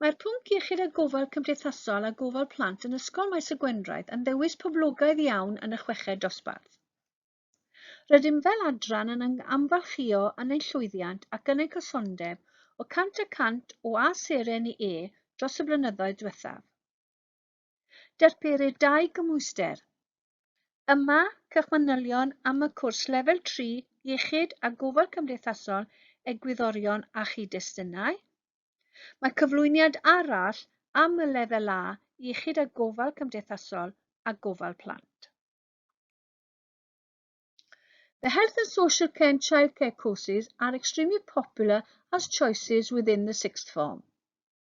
Mae'r pwnc iechyd a gofal cymdeithasol a gofal plant yn Ysgol Maes y Gwendraeth yn ddewis poblogaidd iawn yn y chweched dosbarth. Rydym fel adran yn amgylchio yn ein llwyddiant ac yn ein cysondeb o 100 y cant o A seren i E dros y blynyddoedd diwethaf. Darperir dau gymhwyster. Yma, cewch manylion am y cwrs Lefel 3, Iechyd a Gofal Cymdeithasol, Egwyddorion a Chyd-destunau. Mae cyflwyniad arall am y Lefel A, Iechyd a Gofal Cymdeithasol a Gofal Plant. The health and social care and childcare courses are extremely popular as choices within the sixth form.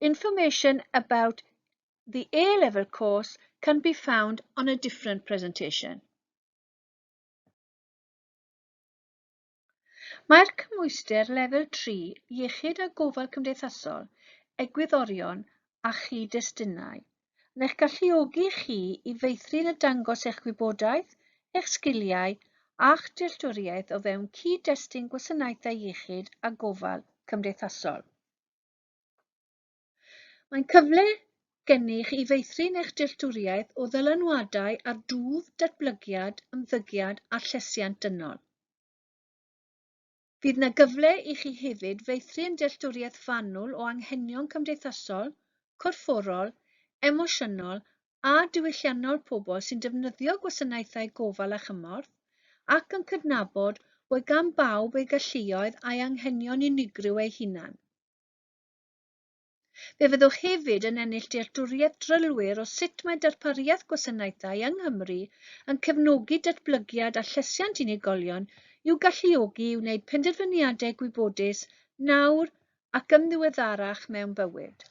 Information about the A-level course can be found on a different presentation. Mae'r cymwyster lefel 3 Iechyd a Gofal Cymdeithasol, Egwyddorion a Chyd-destunau yn eich galluogi chi i feithrin a dangos eich gwybodaeth, eich sgiliau a'ch dealltwriaeth o fewn cyd-destun gwasanaethau iechyd a gofal cymdeithasol. Mae'n cyfle gennych i feithrin eich dealltwriaeth o ddylanwadau ar dwf, datblygiad, ymddygiad a llesiant dynol. Fydd yna gyfle i chi hefyd feithrin dealltwriaeth fanwl o anghenion cymdeithasol, corfforol, emosiynol a diwylliannol pobl sy'n defnyddio gwasanaethau gofal a chymorth, ac yn cydnabod bod gan bawb ei galluoedd a'i anghenion unigryw eu hunain. Fe fyddwch hefyd yn ennill dealltwriaeth drylwyr o sut mae darpariaeth gwasanaethau yng Nghymru yn cefnogi datblygiad a llesiant unigolion i'w galluogi i wneud penderfyniadau gwybodus nawr ac yn ddiweddarach mewn bywyd.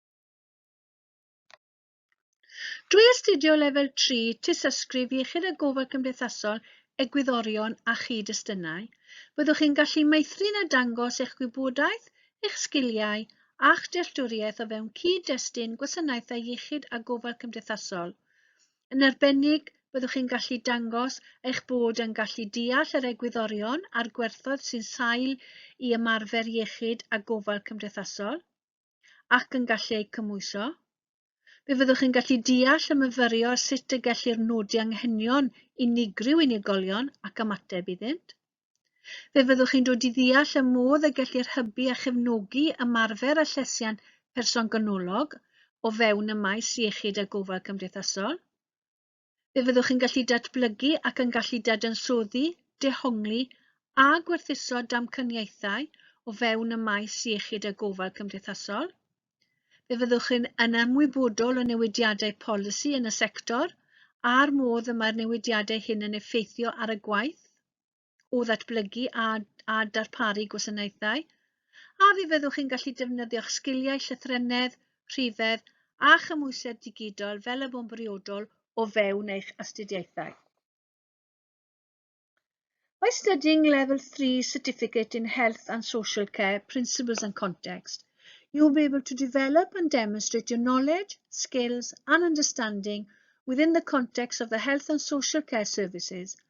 Drwy astudio Lefel 3 Tystysgrif Iechyd a Gofal Cymdeithasol Egwyddorion a Chyd-destunau, byddwch chi'n gallu meithrin a dangos eich gwybodaeth, eich sgiliau a'ch dealltwriaeth o fewn cyd-destun gwasanaethau iechyd a gofal cymdeithasol. Yn arbennig, byddwch chi'n gallu dangos eich bod yn gallu deall yr egwyddorion a'r gwerthoedd sy'n sail i ymarfer iechyd a gofal cymdeithasol. ac yn gallu eu cymhwyso. Fe fyddwch chi'n gallu deall a myfyrio sut y gellir nodi anghenion unigryw unigolion ac ymateb iddynt. Fe fyddwch chi'n dod i ddeall y modd y gellir hybu a chefnogi ymarfer a llesiant person ganolog o fewn y maes iechyd a gofal cymdeithasol. Fe fyddwch yn gallu datblygu ac yn gallu dadansoddi, dehongli a gwerthuso damcaniaethau o fewn y maes iechyd a gofal cymdeithasol. Fe fyddwch yn, yn ymwybodol o newidiadau polisi yn y sector a'r modd y mae'r newidiadau hyn yn effeithio ar y gwaith. o ddatblygu a, a darparu gwasanaethau, a fe fyddwch chi'n gallu defnyddio'ch sgiliau llythrennedd, rhifedd a chymhwysedd digidol fel y bo'n briodol o fewn eich astudiaethau. By studying Level 3 Certificate in Health and Social Care Principles and Context, you will be able to develop and demonstrate your knowledge, skills and understanding within the context of the health and social care services –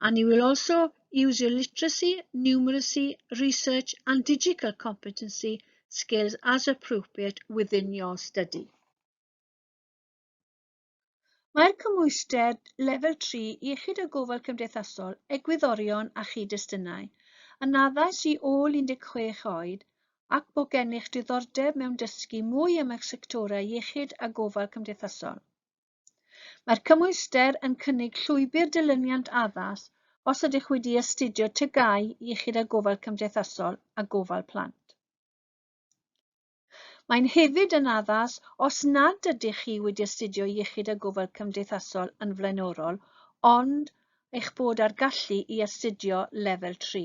and he will also use your literacy, numeracy, research and digital competency skills as appropriate within your study. Mae'r cymhwyster lefel 3 iechyd a gofal cymdeithasol, egwyddorion a chyd-destunau yn addas i ôl 16 oed ac bo gennych diddordeb mewn dysgu mwy am eich sectorau iechyd a gofal cymdeithasol. Mae'r cymhwyster yn cynnig llwybr dilyniant addas os ydych wedi astudio TGAU, Iechyd a Gofal Cymdeithasol a Gofal Plant. Mae'n hefyd yn addas os nad ydych chi wedi astudio Iechyd a Gofal Cymdeithasol yn flaenorol ond eich bod ar gallu i astudio Lefel 3.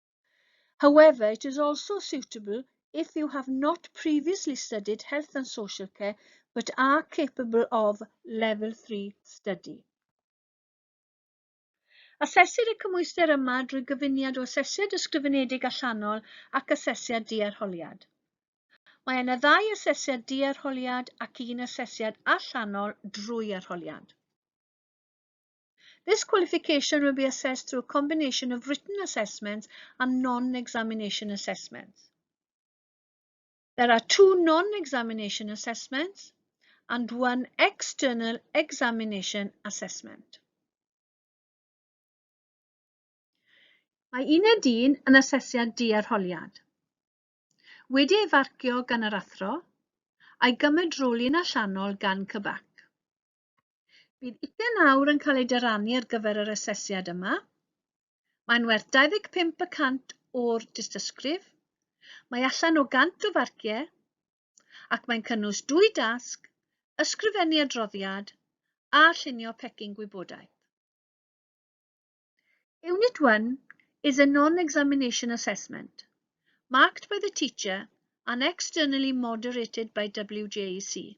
However, it is also suitable if you have not previously studied health and social care but are capable of level 3 study. Asesir y cymwyster yma drwy gyfuniad o asesiad ysgrifenedig allanol ac asesiad diarholiad. Mae yna ddau asesiad diarholiad ac un asesiad allanol drwy arholiad. This qualification will be assessed through a combination of written assessments and non-examination assessments. There are two non-examination assessments and one external examination assessment. Mae uned un yn asesiad diarholiad. Wedi ei farcio gan yr athro, a'i gymedroli'n allanol gan cybac. Bydd ugain awr yn cael ei dyrannu ar gyfer yr asesiad yma. Mae'n werth 25 y cant o'r dystysgrif. Mae allan o 100 o farciau ac mae'n cynnwys dwy dasg, ysgrifennu adroddiad a llunio pecyn gwybodaeth. Unit 1 is a non-examination assessment, marked by the teacher and externally moderated by WJEC.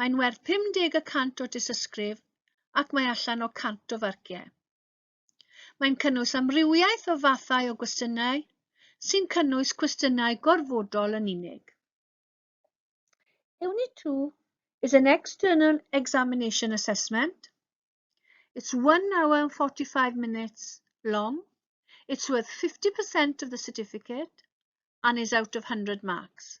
Mae'n werth 50 y cant o dysysgrif ac mae allan o 100 o farciau. Mae'n cynnwys amrywiaeth o fathau o gwestiynau sy'n cynnwys cwestiynau gorfodol yn unig. Unit 2 is an external examination assessment. It's 1 hour and 45 minutes long. It's worth 50% of the certificate and is out of 100 marks.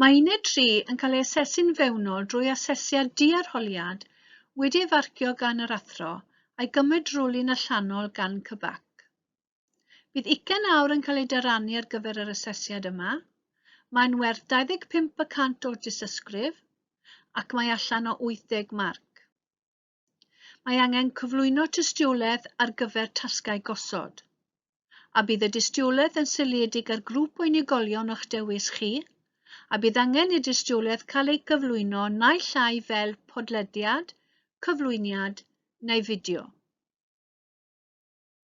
Mae uned 3 yn cael ei asesu'n fewnol drwy asesiad diarholiad wedi ei farcio gan yr athro a'i gymryd drwlun allanol gan CBAC. Bydd ugain awr yn cael ei dyrannu ar gyfer yr asesiad yma. Mae'n werth 25 y cant o'r dystysgrif ac mae allan o 80 marc. Mae angen cyflwyno tystiolaeth ar gyfer tasgau gosod. A bydd y dystiolaeth yn seiliedig ar grŵp o unigolion o'ch dewis chi, a bydd angen y dystiolaeth cael ei gyflwyno naill ai fel podlediad, cyflwyniad neu fideo.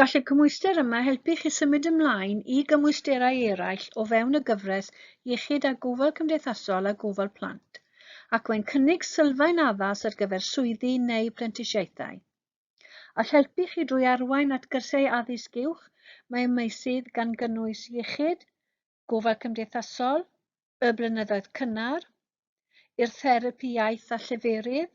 Gall y cymhwyster yma helpu chi symud ymlaen i gymwysterau eraill o fewn y gyfres Iechyd a Gofal Cymdeithasol a Gofal Plant, ac mae'n cynnig sylfaen addas ar gyfer swyddi neu brentisiaethau. All helpu chi drwy arwain at gyrsiau addysg uwch mewn meysydd gan gynnwys iechyd, gofal cymdeithasol, y blynyddoedd cynnar, i'r therapi iaith a lleferydd,